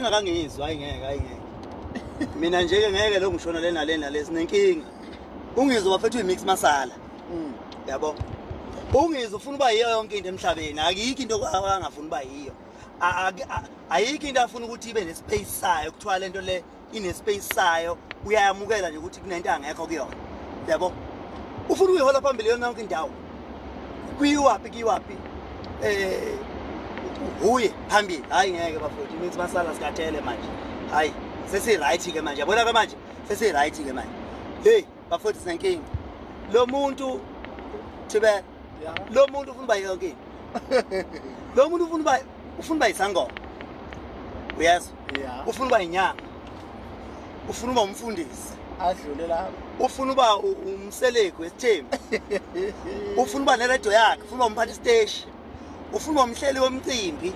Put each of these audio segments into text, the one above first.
inkinga kangiyizwa hayi ngeke hayi ngeke mina nje ke ngeke lo ngishona lena lena lesi nenkinga ungizwa bafethu imix masala mm. yabo ungizwa ufuna uba yiyo yonke into emhlabeni akikho into angafuna uba yiyo ayikho into afuna ukuthi ibe nespace sayo kuthiwa lento le inespace sayo uyayamukela nje ukuthi kunento angekho kuyona yabo ufuna uyihola phambili yona yonke indawo kuyiwaphi kuyiwaphi eh uye phambili hayi ngeke bafowethu means basala sikathele manje hayi sesi-right ke manje yabona ke manje sesi-right ke manje heyi bafowethu sinenkinga lo muntu thibela lo muntu ufuna uba yokini lo muntu ufuna uba ufuna uba yisangoma yes ufuna uba yinyanga ufuna uba umfundisi adlule lapho ufuna uba umselegu esithembu ufuna uba neredio yakhe ufuna uba umphathi isiteshi ufuna uba umhleli womcimbi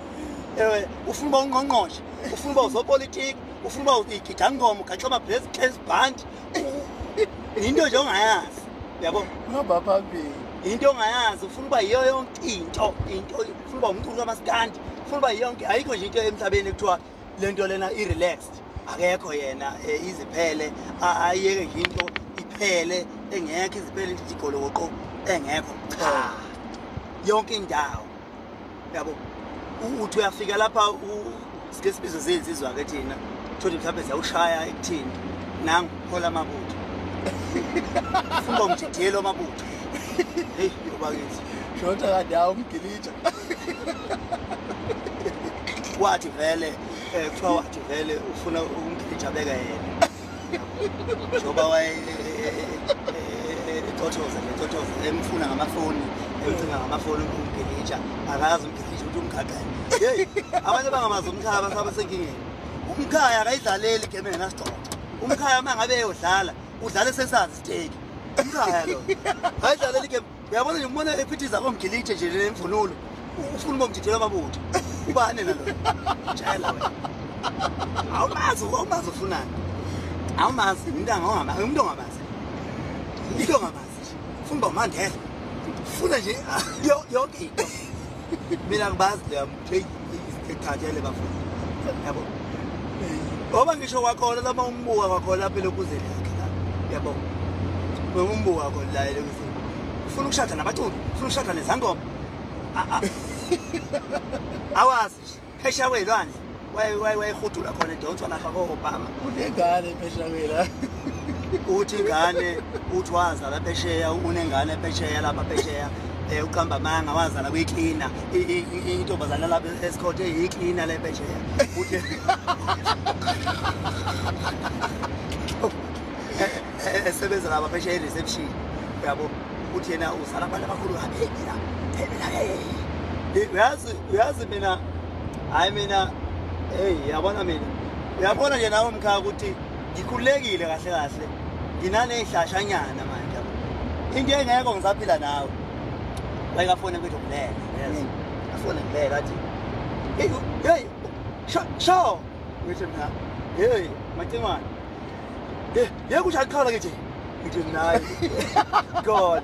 um ufuna uba ungqongqoshe ufuna uba uzopolitiki ufuna uba igidangoma ugaxoma black case band yinto nje ongayazi yabo hamba phambili yinto ongayazi ufuna uba yiyo yonke into into ufuna uba umculi kamasikandi ufuna uba yonke ayikho nje into emhlabeni ekuthiwa le nto lena i-relaxed akekho yena eh, iziphele ayeke nje into iphele engekho iziphele igolokoqo engekho cha yonke indawo yabo uthi uyafika lapha sike sibizo zey'nsizwa-ke thina thole mhlawumbe ziyawushaya ekuthini nangu hola amabutho fumba umjidiyelo amabutho heyi obakithi shota kade awu umgilitsha wathi vele um kuthiwa wathi vele ufuna umgilitsha beka yena njengoba waye ethothoza ethothoza emfuna ngamafoni emcinga ngamafoni umbhikitsha akazi umbhikitsha ukuthi umgaqele yeyi abanye bangamazi umkhaya abantu abasenkingeni umkhaya akayidlaleli igame engenasigcoco umkhaya uma ngabe eyodlala udlala esesazi isiteki umkhaya lo ayidlaleli igame uyabona nje umbona ephithiza komgilithe nje nemvunulo ufuna ubomjidela amabutho ubane nalo jayela wena awumazi awumazi ufunani awumazi umuntu angawama umuntu ongabazi umuntu ongabazi funa uba umandela funa nje yonke into mina ngibazi leyo Hey, sithathele bafuna. Yabo. Ngoba ngisho wakhona lama umbuka wakhona phela ukuze lakhe la. Yabo. Ngoba umbuka wakho la ele ukuthi ufuna ukushada nabaculi, ufuna ukushada nezangoma. Awazi. Phesha kwelwandle. Wayehudula khona edonswa lapha ko Obama. Unengane phesha kwela. uthi ingane uthi wazala phesheya unengane phesheya lapha phesheya um uqamba amanga wazala kwiklina intombazane lapha esikhothe yiklina le phesheya esebenza lapha phesheya i-reception yabo ukuthi yena uzala abantu abakhulu kaphemina phemina uyazi uyazi mina hhayi mina heyi yabona mina uyabona nje nawe mkhaya ukuthi ngikhululekile kahle kahle nginaney'hlashanyana manje into engekho ngisaphila nawe like afone kwethu ngilele yes mm. afone ngilele athi hey hey sho ngithi mina hey macimane ye kusha ikhala ngithi ngithi naye god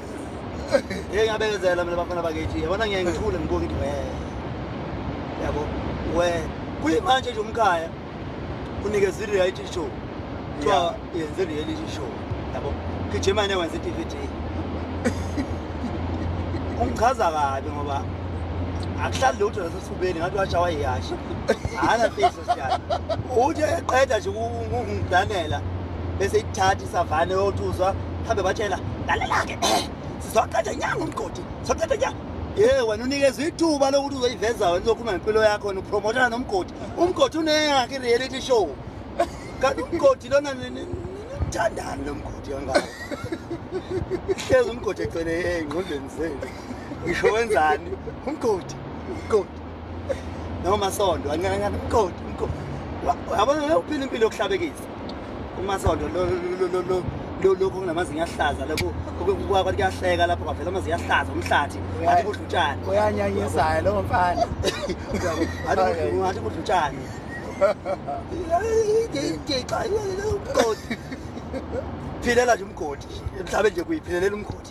ngeke ngabekezela mina bafana bakithi yabona ngeke ngithule ngibuke ngithi we yabo we kuyimanje nje umkhaya unikeza i-reality show kuthiwa yenze i-reality show yabo gijimane wenza i-d v d ungichaza kabi ngoba akuhlali lutho nasesifubeni ngathi washawa yiyasha hana fisa siyana uthe eqeda nje ukungiblanela bese ikuthatha isavane yothuzwa hambe batshela lalela-ke eh, sizoqeda nyanga umgodi sizoqeda nyanga ye wena unikezwa ithuba lokuthi uzoyiveza wena uzokhuluma ngempilo yakho wena upromotana nomgodi umgodi uneyakhe i-reality show kanti umgodi lona nimthandani lo mgodi kangako hlezi umgodi egcwele engqondweni zenu ngisho wenzani umgodi umgodi noma sondo ancancancane umgodi umgodi yabona uphila impilo yokuhlabekisa umasondo lokhu kunamazinyo ahlaza lokhu kwathi kuyahleka lapho kwavela amazinyo ahlaza umhlathi athi kudla utshani uyanyanyisayo lowo mfana athi kudla utshani phila la nje umgodi emhlabeni nje kuyiphilelela umgodi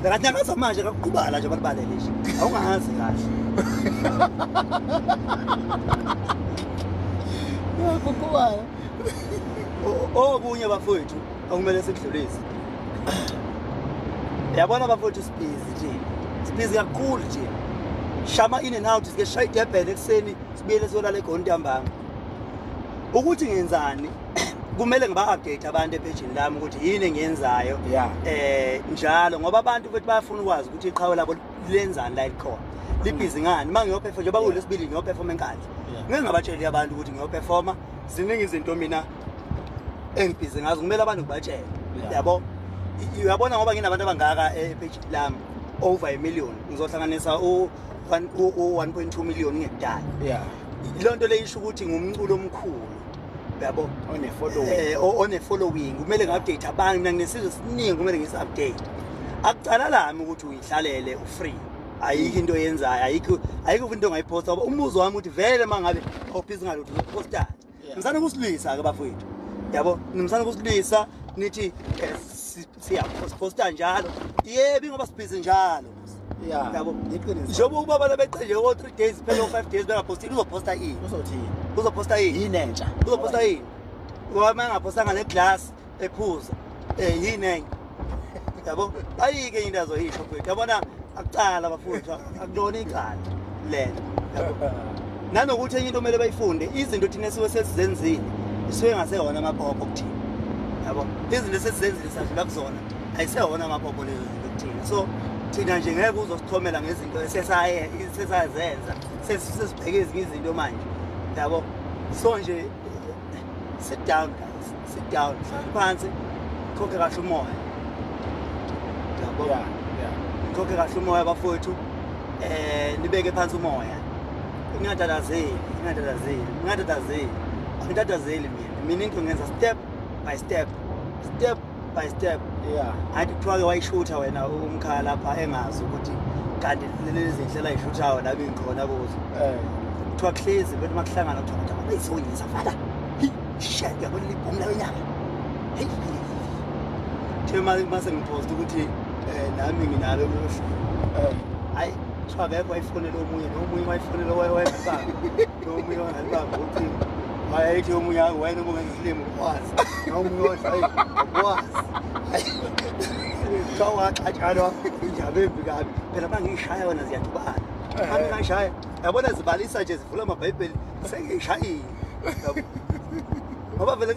Ngakanyakaza manje kakuqubala nje bakubalele nje. Awungazi kahle. Kuqubala. Okunye bafowethu okumele sikudlulise. Yabona bafowethu sibhizi nje. Sibhizi kakhulu nje. Shama in and out sike shaya idebhele ekseni sibuyele siyolala egondambanga. Ukuthi ngenzani? kumele ngiba-update abantu ephejini lami ukuthi yini engiyenzayo yeah. eh njalo ngoba abantu ukuthi bayafuna ukwazi ukuthi iqhawe labo lenzani la likhona libhizi ngani uma ngiyophefoma njengoba kulesibili ngiyophefoma enkandla ngeke ngabatsheli abantu ukuthi ngiyophefoma ziningi izinto mina engibhizi ngazo kumele abantu ngibatshele yabo uyabona ngoba nginabantu abangaka ephejini eh, lami over a million ngizohlanganisa u-1.2 million ngekudala yeah. loo nto leyisho ukuthi ngumculo omkhulu yabo eh, one-following kumele ngi-update abantu mina nginesizwe esiningi kumele ngisi-update akucala lami ukuthi uyihlalele ufree ayikho into yenzayo ayikho ayikho into ongayiphosta ngoba umuzi wami ukuthi vele uma ngabe awubhizi ngalutho uzophostani ngisana ukusilwisa-ke bafowethu yabo ngisana ukusilwisa nithi eh, siyaphosta njalo yebi ngoba sibhizi njalo yabo iqiniso njengoba ukuba abantu beqenje o 3 days phela o 5 days bengaphostile uzophosta ini uzothini uzophosta ini yini entsha uzophosta ini ngoba mangaphostanga ne glass ephuza eh yini enye yabo ayike into azoyisho mfethu yabona akucala bafundwa akulona icala lelo nanokuthi enye into kumele bayifunde izinto thina esiwe sesizenzile isuke ngasehona amaphopho kuthina yabo izinto esesizenzile sadlula kuzona ayisehona amaphopho lezo zinto kuthina so thina nje ngeke uzosithomela ngezinto esesayesesazenza sesibheke ezinye izinto manje yabo so nje sit down guys sit down hlala phansi khokhe kahle umoya yabona khokhe kahle umoya bafowethu eh nibeke phansi umoya ngingatatazeli ngingatatazeli ngingatatazeli angitatazeli mina mina into ngenza step by step step by step yeah athi kuthiwa-ke wayishutha wena umkhala lapha engazi ukuthi kanti lezi zinhlelo ayishuthayo la bengikhona kuzo eh. kuthiwa kuhlezi bethi uma kuhlangana kuthiwa kuthi abantu ayisonyisa fada shet uyabona libhomu layo nyaka heyi the uma sengiphosta ukuthi eh, nami nginalo luhlu eh. hayi kuthiwa kekho wayifonela omunye nomunye wayifonela wayefaka ayithi omunye wena uma ungenza isilimo ukwazi noma omunye odla ayi ukwazi kuthiwa ungaxatshana injaba embi kabi phela uma ngiyishaya wena ziyadubana eh. ami ngashaya yabona zibalisa nje zivula amabhayibheli sengiyishayile ngoba vele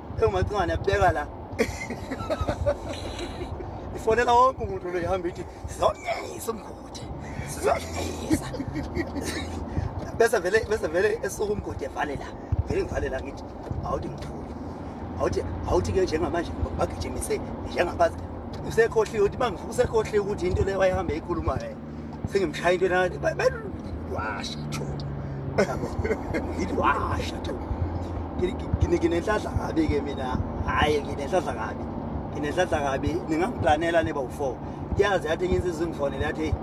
engumacingwane yabeka la ifonela wonke umuntu lo ihamba ithi sizonyisa umgodi sizonyisa bese vele bese vele esuka umgodi evale la vele ngivale la ngithi awuthi ngithule awuthi awuthi ke njengamanje bagijimise njengabazi usekhohliwe uthi bangifukusekhohliwe ukuthi into leyo wayihambe eyikhuluma yena sengimshaya into enakathi washa tho ngithi washa tho nginenhlanhla kabi-ke mina hhayi nginenhlanhla kabi nginenhlanhla kabi ningangiplanela neba u-four yazi yathi enye insizwa ingifonele yathi heyi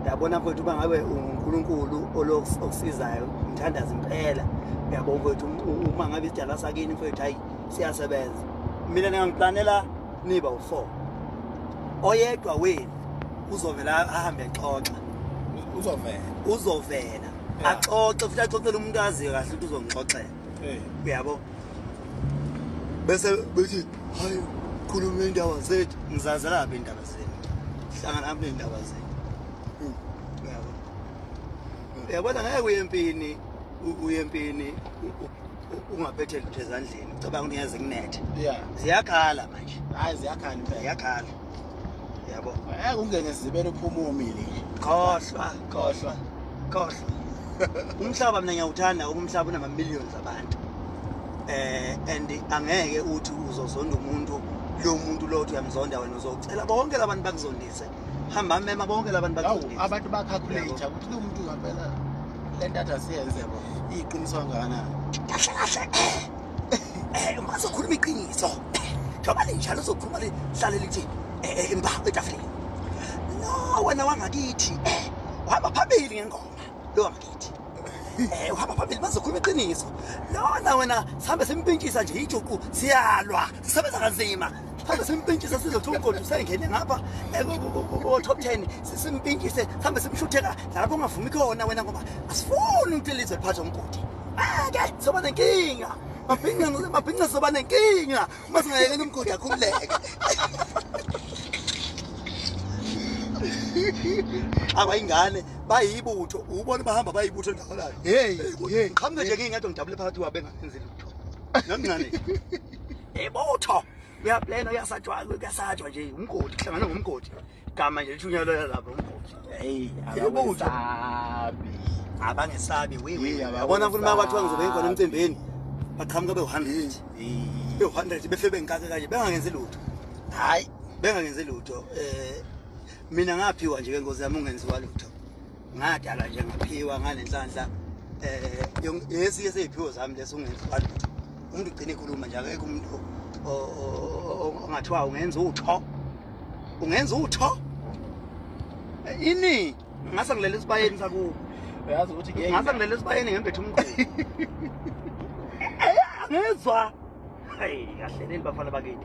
yabona mfowethu uba ngabe ungunkulunkulu okusizayo ngithandaza impela yabo mfowethu uma ngabe isidala sakini mfowethu hayi siyasebenza mina ningangiplanela niba u-four oyedwa wenu uzovela ahambe exoxa uzovela uzovela axoxe futhi axoxele umuntu aziyo kahle ukuthi uzongixoxela uyabo bese bethi hayi khuluma indaba zethu ngizazelaphi indaba zenu hlangana aphi ney'ndaba zenu hmm. uyabo uyabona ngeke uye empini uye empini ungaphethe lutho ezandleni ucabanga ukuthi ngeze kunethe ziyakhala manje hayi ziyakhala impela ziyakhala yabo ngeke ungene ezibele uphuma umile khohlwa khohlwa khohlwa umhlaba mina ngiyawuthanda umhlaba unama millions abantu eh and angeke uthi uzozonda umuntu lo muntu lo uthi uyamzonda wena uzocela bonke labantu bakuzondise hamba mema bonke labantu bakuzondise abantu bacalculate ukuthi lo muntu ngempela le ntatha siyenze bo iqiniso kangakanani kahle kahle um azokhuluma iqiniso njengoba linjalo uzokhuluma lihlale lithi imbaho etafuleni no wena wangakithi uhamba phambili ngengoma lo wangakithi Eh uhamba phambili bazokhuluma iqiniso. Lona wena sihambe simpintshisa nje ijuqu siyalwa. Sisebenza kanzima. Sihambe simpintshisa sizothola umgodi usengene ngapha eh, ku top 10 simpintshise sihambe simshutheka lapho ungavumi khona wena ngoba asifuni ukuthi lizwe liphathe umgodi. Ake soba nenkinga. Mabhinca mabhinca soba nenkinga. Uma singayekela umgodi akhuleke. abayingane bayibutho ubona bahamba bayibutho ndawolayo hey hey qhamuke nje ngingedwa ngidabule phakathi kwabe ngenzi lutho nomncane ibutho uyaplena uyasajwa kuyasajwa nje umgodi kuhlangana ngomgodi igama nje lishunyelwela lapho umvuzo hey yabutho abangesabi yabona ukuthi uma kwathiwa ngizobe ngikhona emcimbini baqhamuka bewu-hundred bewu-hundred befe bengikake kanje bengangenzi lutho hhayi bengangenzi lutho um mina ngaphiwa nje ke ngozi yami ungenziwa lutho ngadala nje ngaphiwa ngalenhlanhla eh yesi yesi iphiwo zami leso ungenza lutho umuntu ugcina ekhuluma nje akekho umuntu ongathiwa ungenza utho ungenza utho eh, ini ngase ngilele esibayeni sakubo uyazi ukuthi ngeke ngase ngilele esibayeni ngembethe umqhubi eh, ngezwa hayi kahle nini bafana bakithi